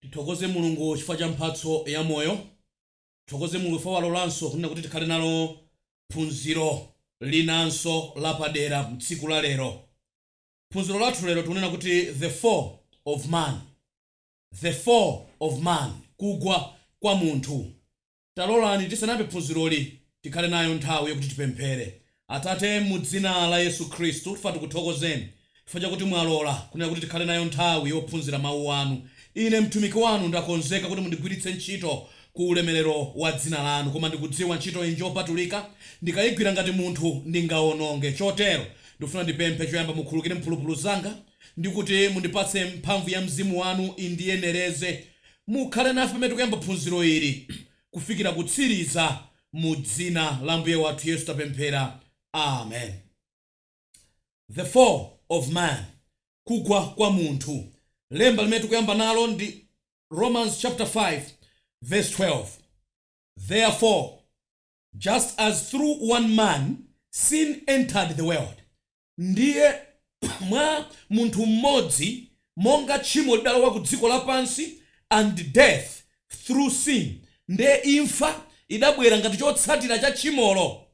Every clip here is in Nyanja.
Tithokoze Mulungu chifukwa cha mphatso ya moyo. Tithokoze Mulungu chifukwa walolanso kunena kuti tikhale nalo phunziro linanso lapadera mtsiku la lero. Phunziro lathu lero tikunena kuti The Fall of Man. The Fall of Man, Kugwa kwa Munthu. Talolani tisanayambe phunziroli tikhale nayo nthawi yokuti tipemphere. Atate, mu dzina la Yesu Khristu, tifuna tikuthokozeni chifukwa chakuti mwalola kunena kuti tikhale nayo nthawi yophunzira Mawu Anu. Ine mtumiki Wanu ndakonzeka kuti mundigwiritse ntchito ku ulemelero wa Dzina Lanu, koma ndikudziwa ntchitoyi njopatulika. Ndikayigwira ngati munthu, ndingawononge. Chotero, ndikufuna ndipemphe choyamba mukhulukire mphulupulu zanga, ndi kuti mundipatse mphamvu ya Mzimu Wanu indiyenereze. Mukhale nafe pamene tikuyamba phunziro ili kufikira kutsiriza, mu Dzina la Ambuye wathu Yesu tapemphera. Amen. The Fall of Man, Kugwa kwa Munthu, Lemba limene tikuyamba nalo ndi Romans chapter 5 verse 12, Therefore just as through one man sin entered the world, Ndiye, mwa Munthu mmodzi, monga tchimo lidalowa ku dziko lapansi, and death through sin, ndiye imfa idabwera ngati chotsatira cha tchimolo,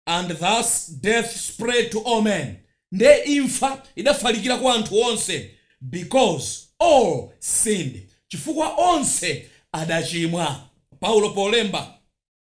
and thus death spread to all men, ndiye imfa idafalikira kwa anthu onse, because all sinned, chifukwa onse adachimwa. Paulo polemba.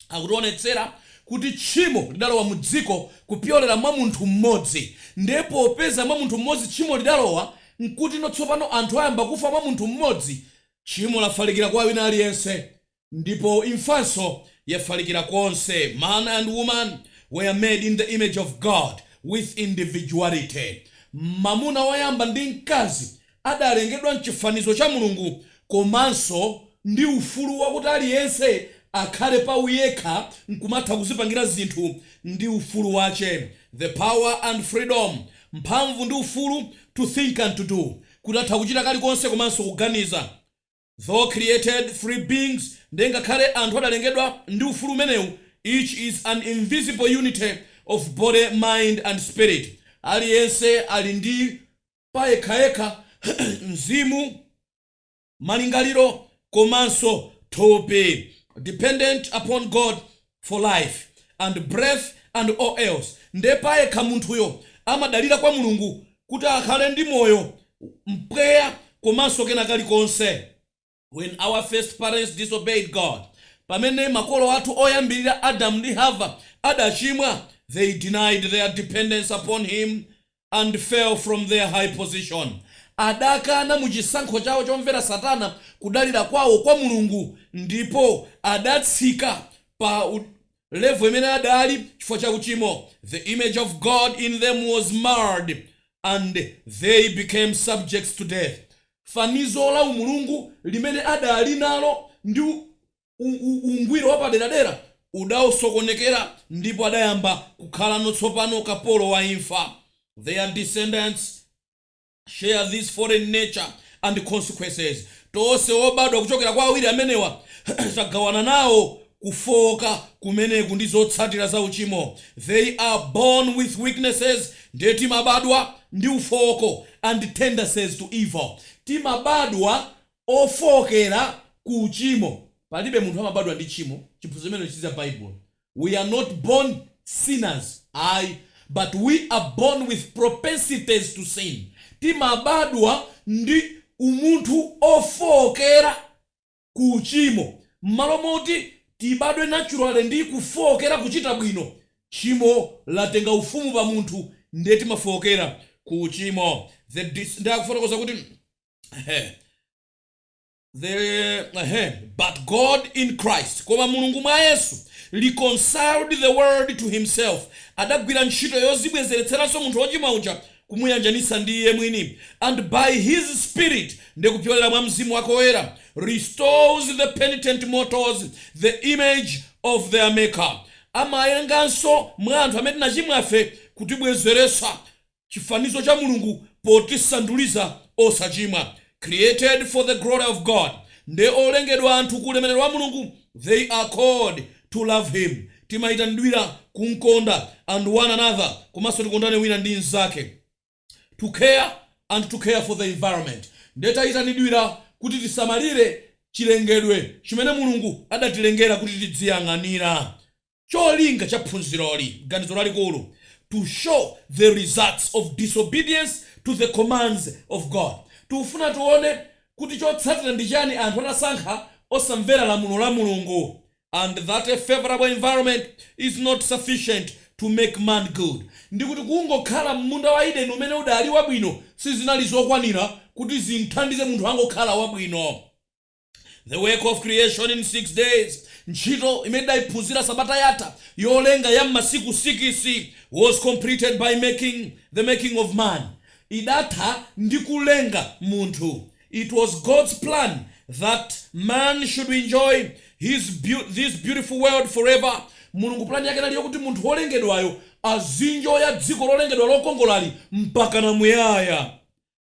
Akutionetsera kuti tchimo lidalowa mu dziko kupyolera mwa munthu m'modzi, nde popeza mwa munthu m'modzi tchimo lidalowa, nkuti no tsopano anthu ayamba kufa mwa munthu m'modzi, tchimo lafalikira kwa wina aliyense, ndipo imfanso yafalikira konse Man and woman were made in the image of God, with individuality Mamuna woyamba ndi mkazi adalengedwa m'chifanizo cha Mulungu komanso ndi ufulu wakuti aliyense akhale pa uyekha nkumatha kuzipangira zinthu ndi ufulu wache, the power and freedom, mphamvu ndi ufulu, to think and to do, kuti atha kuchita kalikonse komanso kuganiza. Though created free beings, ndiye ngakhale anthu adalengedwa ndi ufulu umenewu, each is an invisible unity of body, mind and spirit, aliyense ali ndi. payekhayekha, mzimu, malingaliro komanso thupi dependent upon God for life and breath and all else nde payekha munthuyo amadalira kwa Mulungu kuti akhale ndi moyo, mpweya komanso kena kalikonse. When our first parents disobeyed God, Pamene makolo athu oyambirira Adamu ndi Hava adachimwa they denied their dependence upon Him and fell from their high position, adakana mu chisankho chawo chomvera Satana kudalira kwawo kwa Mulungu ndipo adatsika pa level imene adali chifukwa cha uchimo, the image of God in them was marred and they became subjects to death, fanizo la umulungu limene adali nalo ndi ungwiro wapaderadera udaosokonekera ndipo adayamba kukhalano tsopano kapolo wa imfa, their descendants. share this fallen nature and its consequences, tonse obadwa kuchokera kwa awiri amenewa tagawana nawo kufooka kumeneku ndi zotsatira za uchimo, they are born with weaknesses, ndiye timabadwa ndi ufooko, and tendencies to evil, timabadwa ofookera ku uchimo, palibe munthu amabadwa ndi tchimo, chiphunzitso chimenecho si cha Bible, we are not born sinners ayi but we are born with propensities to sin timabadwa ndi umunthu ofookera ku uchimo mmalo moti tibadwe naturally ndi kufookera kuchita bwino tchimo latenga ufumu pa munthu nde timafookera ku uchimo the dis nde akufotokoza kuti The, ehem, but God in Christ, koma Mulungu mwa Yesu, reconciled the world to himself, adagwira ntchito yozibwezeretseranso munthu wochimwa uja kumuyanjanitsa ndi Iye mwini, and by His Spirit, ndi kupyolera mwa Mzimu Wake Woyera, restores the penitent mortals the image of their Maker, amayenganso mwa anthu amene tinachimwafe kutibwezeretsa chifanizo cha Mulungu potisanduliza osachimwa created for the glory of God. Nde olengedwa anthu ku ulemerero wa Mulungu they are called to love Him. Timaitanidwira kumkonda and one another komanso tikondane wina ndi nzake to care and to care for the environment. Nde taitanidwira kuti tisamalire chilengedwe chimene Mulungu adatilengera kuti tidziyang'anira. Cholinga cha phunziroli, ganizo lalikulu, to show the results of disobedience to the commands of God, tikufuna tione kuti chotsatira ndi chani anthu atasankha osamvera lamulo la Mulungu, and that a favorable environment is not sufficient to make man good, ndikuti kungokhala mmunda wa Eden umene udali wabwino sizinali zokwanira kuti zimthandize munthu angokhala wabwino. The work of creation in six days, Ntchito imene tidaiphunzira sabata yatha yolenga ya m'masiku sikisi, was completed by the making of man, idatha ndi kulenga munthu, It was God's plan that man should enjoy this beautiful world forever, Mulungu plan yake inali yokuti munthu wolengedwayo azinjoya dziko lolengedwa lokongolali mpakana muyaya.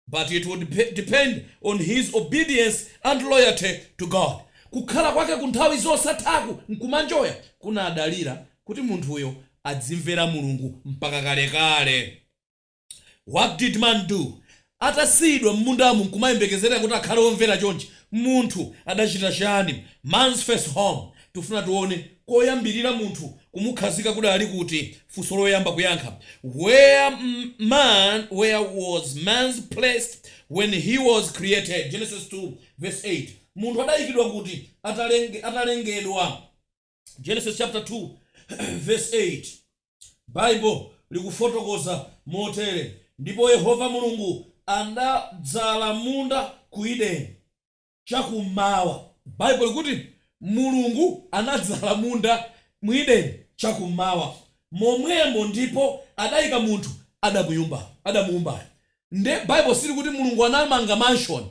But it would depend on his obedience and loyalty to God, Kukhala kwake ku nthawi zosathaku nkumanjoya kunadalira kuti munthuyo adzimvera Mulungu mpaka kalekale. What did man do? Atasiyidwa m'mundamu nkumayembekezera kuti akhale womvera chonchi, munthu adachita chiyani? Man's first home Tufuna tuone koyambirira munthu kumukhazika kudali kuti, funso loyamba kuyankha, Where was man placed when he was created? Genesis 2 vs 8 Munthu adayikidwa kuti atalengedwa? Genesis chapter 2 vs 8 Bible likufotokoza motere, Ndipo Yehova Mulungu anadzala munda ku Eden. chakummawa. Baibulo likuti Mulungu anadzala munda mu Edeni chakummawa momwemo ndipo adaika munthu adamuumbayo. Nde Baibulo silikuti Mulungu anamanga mansion,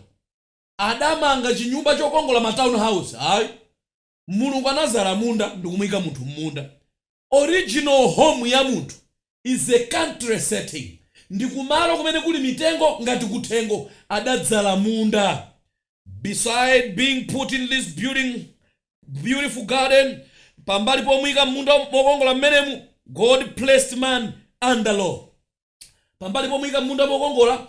adamanga chinyumba chokongola ma town house ayi. Mulungu anadzala munda ndikumuika munthu mmunda. Original home ya munthu is a country setting, ndi kumalo kumene kuli mitengo ngati kuthengo, adadzala munda. Beside being put in this beautiful garden, pambali pomuika m'munda mokongola m'menemu, God placed man under law. pambali pomuika mmunda mokongola,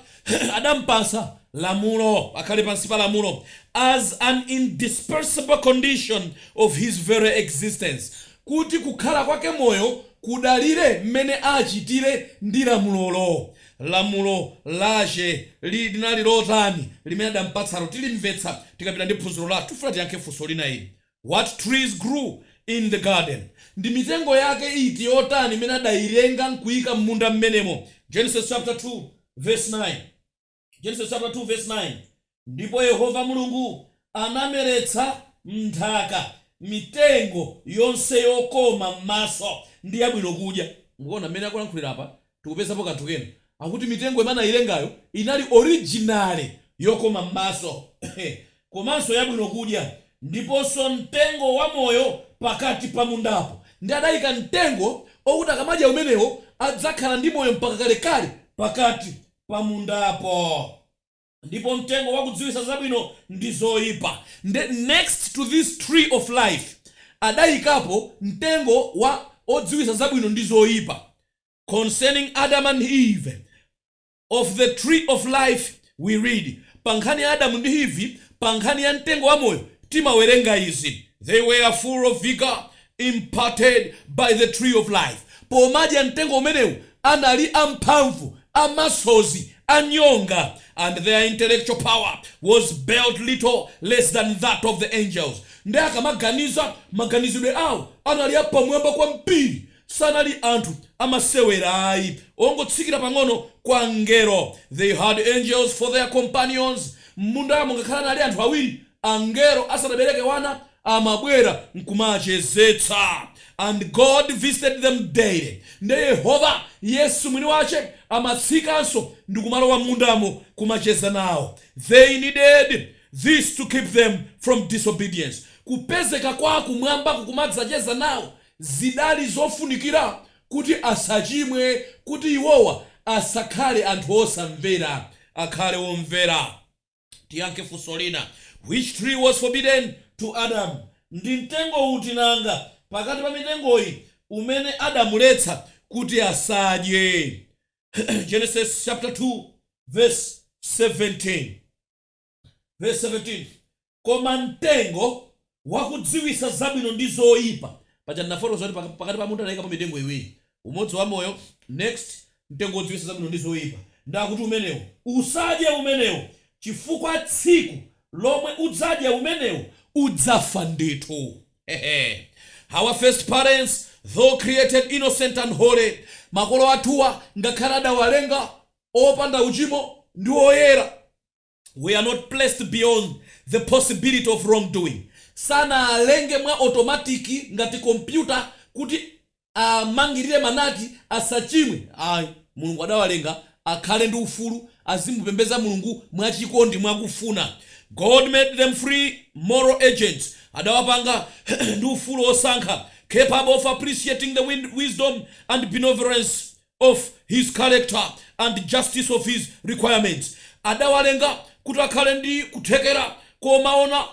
adampatsa lamulo, akhale pansi pa lamulo, as an indispensable condition of his very existence, kuti kukhala kwake moyo kudalire mmene achitire ndi lamulolo. Lamulo lache linali lotani limene adampatsalo? Tilimvetsa tikapita ndi phunziro lathu. Tufuna tiyankhe funso lina ili. What trees grew in the garden? Ndi mitengo yake iti yotani imene adailenga nkuika m'munda m'menemo? Genesis chapter 2 verse 9 Genesis chapter 2 verse 9 Ndipo Yehova Mulungu anameretsa m'nthaka mitengo yonse yokoma m'maso, ndi yabwino kudya. Mukuona m'mene akulankhulira apa? Tikupezapo kanthu kena akuti mitengo imene anailengayo inali originally yokoma m'maso komanso yabwino kudya ndiponso mtengo wa moyo pakati pa mundapo ndiye adaika mtengo okuti akamadya umenewo adzakhala ndi moyo mpaka kalekale pakati pa mundapo. ndipo mtengo wakudziwitsa zabwino ndi zoipa, next to this tree of life, adayikapo mtengo wa odziwitsa zabwino ndi zoipa, Concerning Adam and Eve, of the tree of life we read, pa nkhani ya Adamu ndi Eve, pa nkhani ya mtengo wa moyo, timawerenga izi, They were full of vigor, imparted by the tree of life pomadya mtengo umenewu anali amphamvu, amasozi, anyonga and their intellectual power was but little less than that of the angels nde akamaganiza maganizidwe awo anali apamwamba kwambiri sanali anthu amasewera ayi, ongotsikira pang'ono kwa angelo they had angels for their companions mmundamo ngakhale anali anthu awiri angelo asanabereke wana amabwera nkumachezetsa and God visited them daily nde Yehova yesu mwini wache amatsikanso ndikumalowa mmundamo kumacheza nawo they needed this to keep them from disobedience kupezeka kwa kumwamba kukumadzacheza nawo zidali zofunikira kuti asachimwe kuti iwowa asakhale anthu osamvera akhale omvera. Tiyankhe funso lina, Which tree was forbidden to Adam? Ndi mtengo uti nanga pakati pa mitengoyi umene adamuletsa kuti asadye? Genesis chapter 2 verse 17. Verse 17, Koma mtengo wakudziwitsa zabwino ndi zoipa. Paja ndinafotokoza zoti pakati pa munda anaikapo mitengo iwiri, umodzi wa moyo, next, mtengo wodziwitsa zabwino ndi zoipa, ndi akuti umenewo, usadye umenewo, chifukwa tsiku lomwe udzadya umenewo, udzafa ndithu. Hehe! Our first parents, though created innocent and holy, makolo athuwa ngakhale adawalenga opanda uchimo ndi oyera, were not placed beyond the possibility of wrongdoing, sanaalenge mwa otomatiki ngati kompyuta kuti amangirire manati asachimwe ayi, Mulungu adawalenga akhale ndi ufulu, azimupembeza Mulungu mwa chikondi mwa kufuna, God made them free moral agents, adawapanga ndi ufulu wosankha, capable of appreciating the wisdom and benevolence of His character and justice of His requirements, adawalenga kuti akhale ndi kuthekera komaona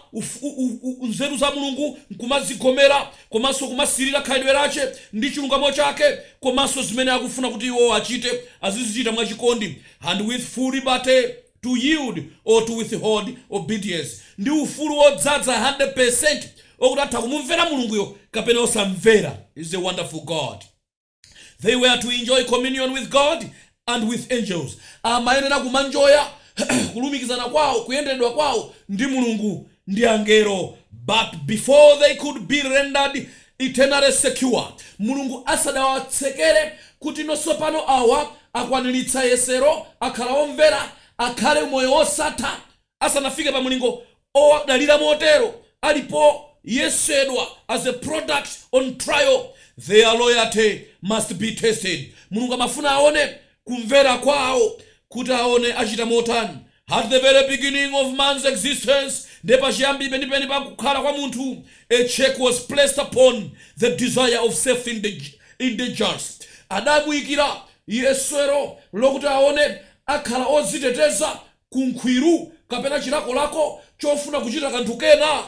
nzeru za Mulungu nkumazigomera komanso kumasirira khalidwe lache ndi chilungamo chake komanso zimene akufuna kuti iwo achite azizichita mwachikondi and with full liberty to yield or to withhold obedience, ndi ufulu wodzadza 100% okuti atha kumumvera Mulunguyo kapena osamvera, He's a wonderful God. They were to enjoy communion with God and with angels. Amayenera kumanjoya kulumikizana kwawo, kuyenderedwa kwawo ndi Mulungu ndi angelo. But before they could be rendered eternally secure, Mulungu asadawatsekere kuti no tsopano awa akwaniritsa yesero, akhala omvera, akhale moyo wosatha, asanafike pa mulingo owadalira motero ali poyesedwa as a product on trial their loyalty must be tested Mulungu amafuna aone kumvera kwawo kuti aone achita motani At the very beginning of man's existence ndiye pachiyambi penipeni pa kukhala kwa munthu a check was placed upon the desire of self indulgence adamuyikira yesero lokuti aone akhala odziteteza ku nkhwiru kapena chilakolako chofuna kuchita kanthu kena,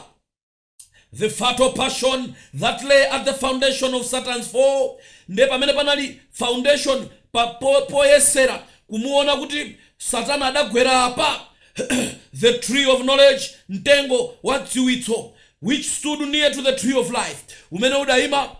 the fatal passion that lay at the foundation of Satan's fall, ndiye pamene panali foundation po, poyesera kumuona kuti Satana adagwera apa, the tree of knowledge, mtengo wa dziwitso, which stood near to the tree of life, umene udaima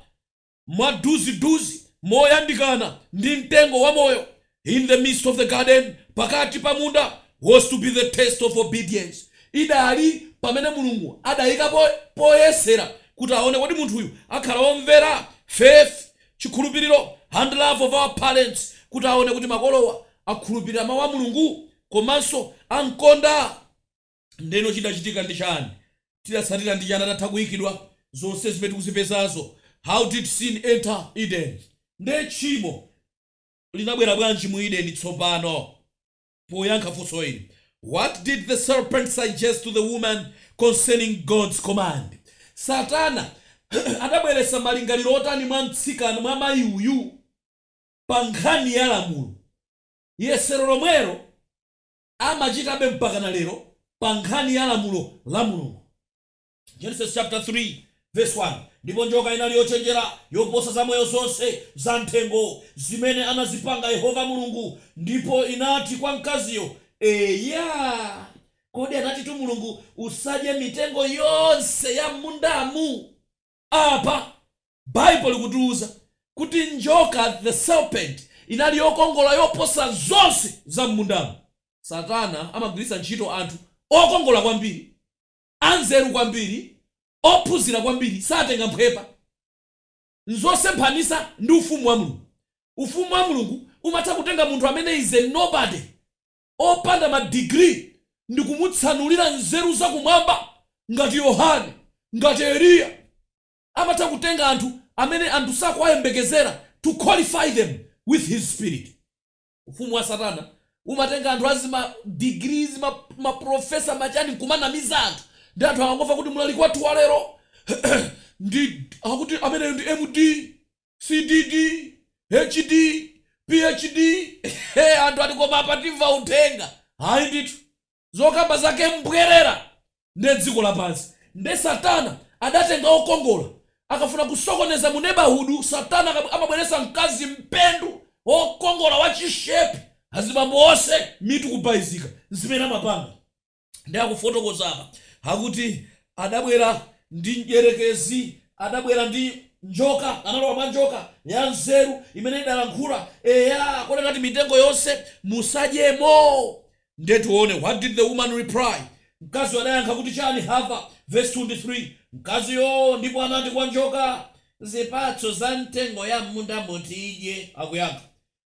mwaduziduzi moyandikana ndi mtengo wa moyo in the midst of the garden pakati pa munda was to be the test of obedience idali pamene mulungu adaika poyesera kuti aone kuti munthuyu akhala womvera faith chikhulupiriro and love of our parents kuti aone kuti makolowa akhulupirira mawu a mulungu komanso amkonda Ndeno chidachitika ndi chani? Chidatsatira ndi chani atatha kuikidwa? Zonse zimene tikuzipezazo How did sin enter Eden? Nde tchimo linabwera bwanji mu Eden tsopano? Poyankha funso ili What did the serpent suggest to the woman concerning God's command? Satana adabweretsa malingaliro otani mwa mtsikana, mwa mayi uyu pa nkhani ya lamulo? Yesero lomwelo. amachitabe mpakana lero pa nkhani ya lamulo la Mulungu. Genesis chapter 3 verse 1 Ndipo njoka inali yochenjera yoposa zamoyo zonse za m'thengo, zimene anazipanga Yehova Mulungu, ndipo inati kwa mkaziyo, Eya, kodi anatitu Mulungu, Usadye mitengo yonse ya m'mundamu? Apa, Baibulo likutiuza kuti njoka, the serpent, inali yokongola yoposa zonse za m'mundamu. Satana amagwiritsa ntchito anthu okongola kwambiri, anzeru kwambiri, ophunzira kwambiri. Satenga mphwepa. N'zosemphanitsa ndi Ufumu wa Mulungu. Ufumu wa Mulungu umatha kutenga munthu amene is a nobody. opanda ma digiri ndikumutsanulira nzeru zakumwamba ngati Yohane, ngati Eliya. Amatha kutenga anthu amene anthu sakuwayembekezera to qualify them with his spirit. Ufumu wa satana umatenga anthu azima digiri, azima professor ma chani nkumanamiza anthu nde anthu akangomva kuti mlaliki wathu walero ndi akuti ameneyo ndi M.D. CDD, HD, PhD eeh anthu ali koma apa timva uthenga ayi ndithu zokamba zake mbwerera nde dziko lapansi nde satana adatenga okongola akafuna kusokoneza mu neighborhood satana akabw amabweretsa mkazi mpendu okongola wa chishepi azibambo onse mitu kubalalika nzimene amapanga. Ndiye akufotokoza apa, akuti adabwera ndi mdyerekezi, adabwera ndi njoka, analowa mwa njoka, ya nzeru, imene idalankhula, eya, kodi anati mitengo yonse musadyemo? Ndiye tione, what did the woman reply? Mkaziyo adayankha kuti chani, Hava, verse 2 ndi 3, Mkaziyo ndipo anati kwa njoka, Zipatso za mitengo ya m'mundamo tidye, akuyankha,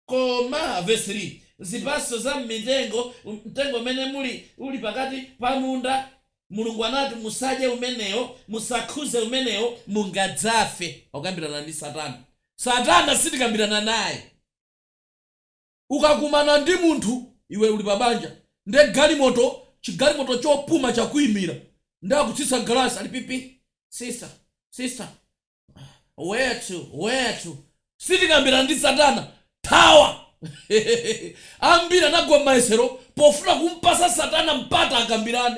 Koma, vesi 3, zipatso za mmitengo, mtengo umene muli, uli pakati pa munda, Mulungu anati, Musadye umenewo, musakhuze umenewo, mungadzafe. Akukambirana ndi Satana. Satana sitikambirana naye. Ukakumana ndi munthu, iwe uli pa banja, ndiye galimoto, chigalimoto chopuma chakuimira, ndiye akutsitsa galasi, ali pipi, Sister, sister, Where to? Where to? Sitikambirana ndi satana thawa ambiri anagwa mmayesero pofuna kumpasa satana mpata akambirane.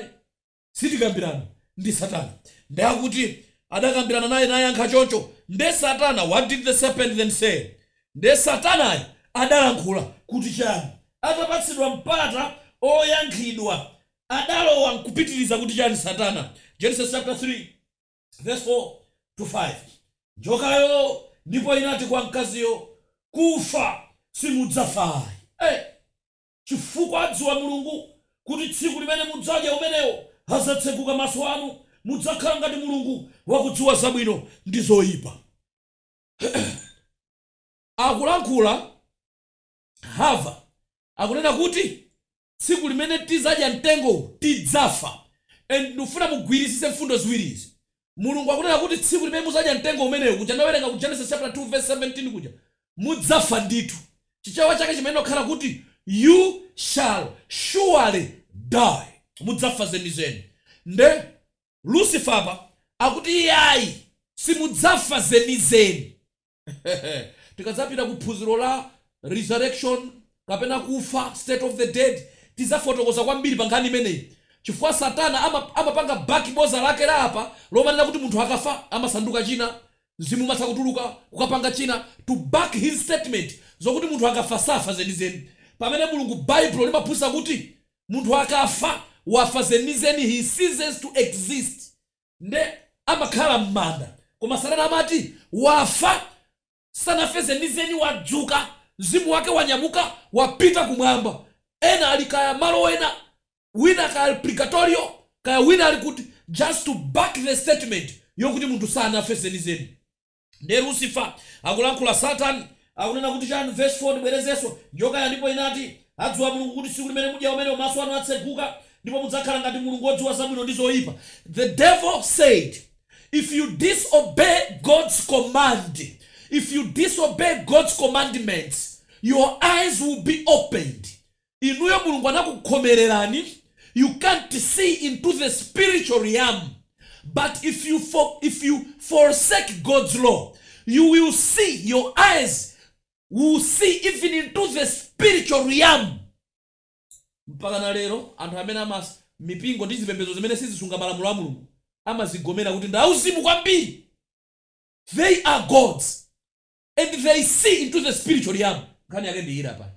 Sitikambirana ndi satana nde akuti adakambirana naye nayankha choncho nde satana what did the serpent then say? Nde satanayo adalankhula kuti chani atapatsidwa mpata oyankhidwa adalowa nkupitiriza kuti chani satana? Genesis chapter 3. Vesi 4, 5, Njokayo ndipo inati kwa mkaziyo, Kufa simudzafa ayi. Chifukwa adziwa Mulungu, kuti tsiku limene mudzadya umenewo, adzatseguka maso anu, mudzakhala ngati Mulungu, wakudziwa zabwino ndi zoipa. Akulankhula Hava akunena kuti. tsiku limene tizadya mtengo uwu tidzafa and ndikufuna mugwirisise mfundo ziwiri izi mulungu akunena kuti tsiku limene muzadya mtengo umenewu kuja ndawerenga ku Genesis chapter 2 verse 17 kuja mudzafa ndithu chichewa chake chimayenera kukhala kuti you shall surely die mudzafa zenizeni nde Lucifer apa akuti iyayi simudzafa zenizeni Tikadzapita ku phunziro la resurrection kapena kufa, state of the dead, tidzafotokoza kwambiri pa nkhani imeneyi chifukwa Satana amapanga back boza lake la apa lomanena kuti munthu akafa amasanduka china, mzimu umatha kutuluka kukapanga china to back his statement zokuti munthu akafa safa zenizeni pamene Mulungu Baibulo limaphunzitsa kuti munthu akafa wafa zenizeni he ceases to exist. nde amakhala mmanda koma satana amati wafa sanafe zenizeni wadzuka mzimu wake wanyamuka wapita kumwamba ena ali kaya malo ena wina kaya purigatorio kaya wina ali kuti just to back the statement yokuti munthu sanafe zenizeni. Nde Lucifer akulankhula Satan akunena kuti chani verse 4 ndibwerezenso, Njokayo ndipo inati, Adziwa Mulungu kuti tsiku limene mudya umenewo maso anu atseguka, ndipo mudzakhala ngati Mulungu odziwa zabwino ndi zoipa. The devil said if you disobey God's command, if you disobey God's commandments your eyes will be opened inuyo mulungu anakukhomelerani you can't see into the spiritual realm but if you forsake god's law you will see your eyes will see even into the spiritual realm mpaka na lero anthu amene mipingo ndi zipembedzo zimene sizisunga malamulo a mulungu amazigomera kuti ndi auzimu kwambiri they are gods and they see into the spiritual realm nkhani yake ndi ili apa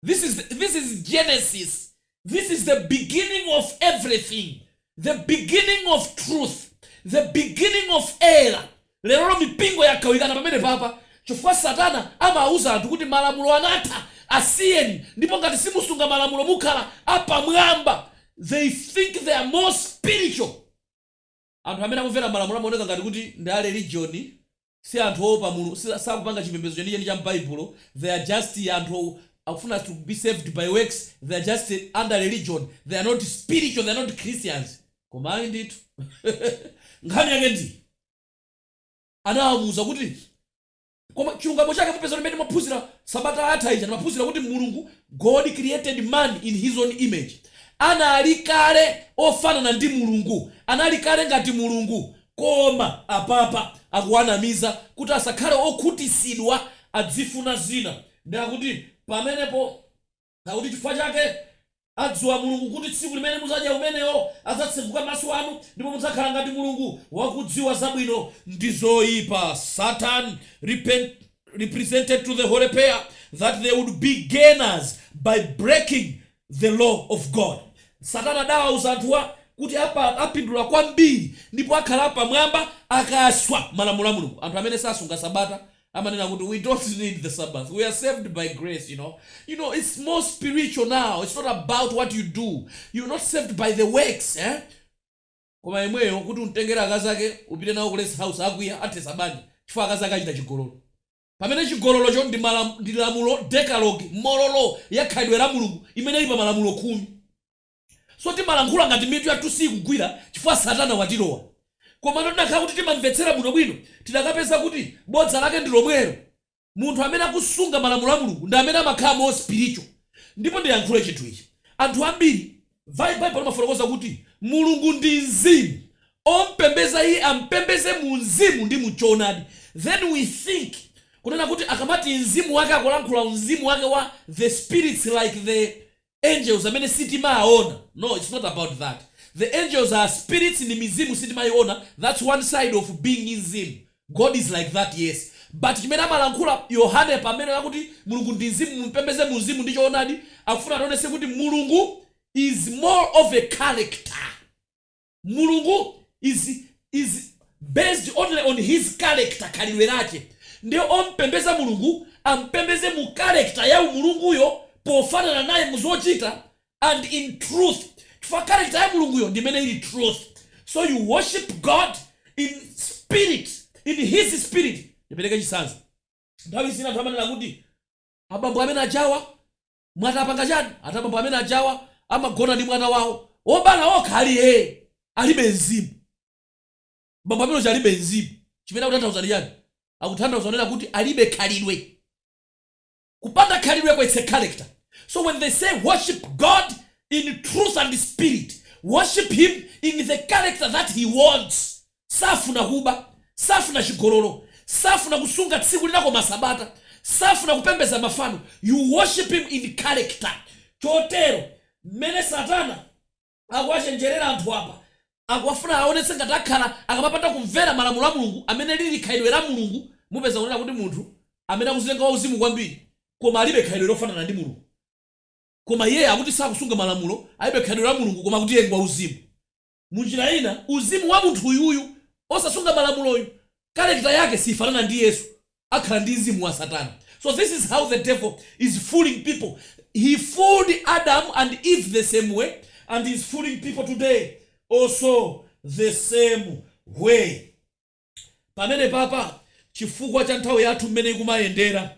This is Genesis. This is the beginning of everything. The beginning of truth. The beginning of error. Lerolo mipingo yagawikana pamenepapa chifukwa Satana amawuza anthu kuti malamulo anatha, asiyeni ndipo ngati simusunga malamulo mukhala apamwamba. They think they are more spiritual. Anthu amene akumvera malamulo amaoneka ngati kuti ndi a religion, si anthu oopa Mulungu, sakupanga chipembezo chenicheni cha m'Baibulo, they are just anthu akufuna to be saved by works, they are just under religion, they are not spiritual, they are not Christians. Koma ayi ndithu. Nkhani yake ndi iyi, anawauza kuti. Koma chilungamo chake mupeza kuti mmene timaphunzira sabata yatha ija timaphunzira kuti Mulungu God created man in his own image. Anali kale ofanana ndi Mulungu. Anali kale ngati Mulungu. Koma apapa akuwanamiza kuti asakhale okhutitsidwa adzifuna zina nde akuti pamenepo. Akuti chifukwa chake adziwa Mulungu kuti tsiku limene muzadya umenewo adzatseguka maso anu ndipo mudzakhala ngati Mulungu wakudziwa zabwino ndi zoipa Satan represented to the holy pair that they would be gainers by breaking the law of God. Satana adawauza anthuwa kuti apa apindula kwambiri ndipo akhala apamwamba akaswa malamulo a Mulungu. Anthu amene sasunga Sabata amanena kuti we don't need the sabbath we are saved by grace you know you know it's more spiritual now it's not about what you do you're not saved by the works eh? koma yemweyo kuti umtengere akazi ake upite nawo ku rest house akwiya athetsa banja chifukwa akazi ake achita chigololo pamene chigololocho ndi, malam, ndi lamulo decalogue moral law ya khalidwe la mulungu imene ili pa malamulo khumi So timalankhula ngati mitu yathu siikugwira chifukwa Satana watilowa. Komano tinakhala kuti timamvetsera bwinobwino, tidakapeza kuti bodza lake ndi lomwero. Munthu amene akusunga malamulo a Mulungu ndi amene amakhala more spiritual. Ndipo ndiyankhule chinthu ichi. Anthu ambiri. Bible limafotokoza kuti Mulungu ndi Mzimu, ompembeza iye ampembeze mu mzimu ndi mu choonadi. Then we think kunena kuti akamati mzimu wake akulankhula mzimu wake wa the spirits like the. angels amene sitimaaona no its not about that the angels are spirits ndi mizimu sitimaiona thats one side of being mzimu God is like that yes but chimene amalankhula Yohane pamene akuti Mulungu ndi mzimu umpembeze mu mzimu ndi choonadi akufuna ationetse kuti Mulungu is more of a character Mulungu is is based only on his character khalidwe lake nde ompembeza Mulungu ampembeze mu character ya Mulunguyo pofanana naye mu zochita and in truth chifukwa character ya Mulunguyo ndi imene ili truth so you worship God in spirit in his spirit ndipereke chitsanzo nthawi zina anthu amanena kuti abambo amene ajawa mwati apanga chani? Ati abambo amene ajawa amagona ndi mwana wawo obala okha ali hee! Alibe mzimu. Bambo amene uja alibe mzimu. Chimene akutanthauza ndi chani? Akutanthauza kunena kuti alibe khalidwe. Kupanda khalidweko its a character. So when they say worship God in truth and spirit, worship him in the character that he wants. Safuna kuba, safuna chigololo, safuna kusunga tsiku lina koma Sabata, safuna kupembeza mafano, you worship him in character. Chotero mmene Satana akuwachenjerera anthu apa, akuwafuna aonetse ngati akhala akamapanda kumvera malamulo a Mulungu amene lili khalidwe la Mulungu, mupeza kunena kuti munthu amene akuzitenga wa uzimu kwambiri koma alibe khalidwe lofanana ndi Mulungu. Koma iyeyo akuti sakusunga malamulo, alibe khalidwe la Mulungu koma akuti iye ngwa uzimu. Munjira ina, uzimu wa munthuyu uyu osasunga malamuloyu, character yake siyifanana ndi Yesu, akhala ndi mzimu wa satana. So this is how the devil is fooling people, he fooled Adam and Eve the same way and is fooling people today also the same way. pamenepa pa chifukwa cha nthawi yathu mmene ikumayendera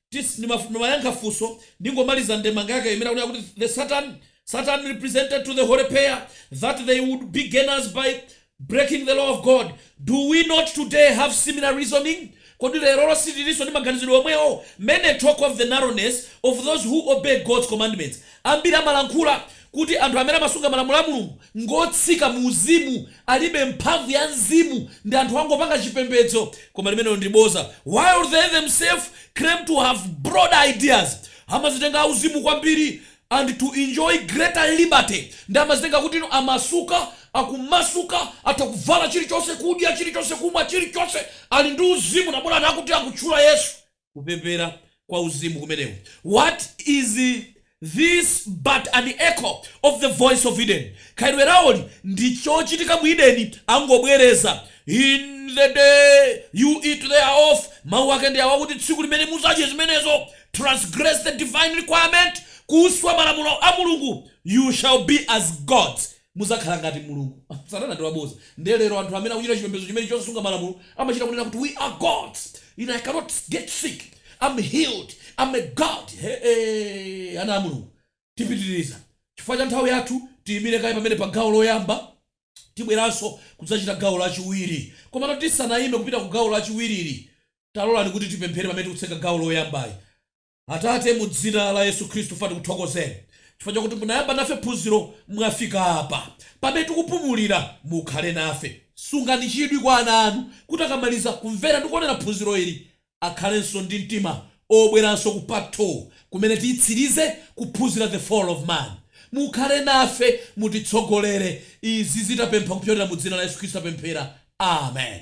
tis ndimaf ndimayankha funso ndingomaliza ndemanga yake imene akunena kuti the satan satan represented to the holy pair that they would be gainers by breaking the law of god do we not today have similar reasoning kodi lerolo sitilinso ndi maganizidwe omwewo many talk of the narrowness of those who obey god's commandments ambiri amalankhula kuti anthu amene amasunga malamulo a mulungu ngotsika muuzimu alibe mphamvu ya mzimu ndi anthu angopanga chipembedzo koma limenelo ndi boza while they themselves claim to have broad ideas amazitenga auzimu kwambiri and to enjoy greater liberty ndi amazitenga kuti ndi omasuka akumasuka atha kuvala chilichonse kudya chilichonse kumwa chilichonse ali ndi uzimu na bolani akuti akutchula yesu kupepera kwa uzimu kumeneku what is this but an echo of the voice of eden khalidwe lawoli ndi chochitika mu edeni angobwereza in the day you eat thereof mawu ake ndi awa kuti tsiku limene muzadye zimenezo transgress the divine requirement kuswa malamulo a mulungu you shall be as gods Mudzakhala ngati Mulungu. Satana ndi wabodza. Ndiye lero anthu amene akuchita chipembedzo chimenecho chosasunga malamulo amachita kunena kuti, we are gods ine I cannot get sick, am healed, am a god heeeeeeeeeee ana a Mulungu tipitiriza chifukwa cha nthawi yathu tiyimire kaye pamene pa gawo loyamba tibweranso kudzachita gawo lachiwiri komano tisanayime kupita ku gawo lachiwiriri talolani kuti tipemphere pamene tikutseka gawo loyambali. Atate, mu Dzina la Yesu Khristu, ife tikuthokozeni chifukwa chakuti munayamba nafe phunziro, mwafika apa pamene tikupumulira. Mukhale nafe. Sungani chidwi kwa ana Anu, kuti akamaliza kumvera ndi kuonera phunziro ili, akhalenso ndi mtima obweranso ku Part 2, kumene tiyitsirize kuphunzira The Fall of Man. Mukhale nafe. Mutitsogolere. Izi tapempha kupyolera mu Dzina la Yesu Khristu tapemphera. Amen.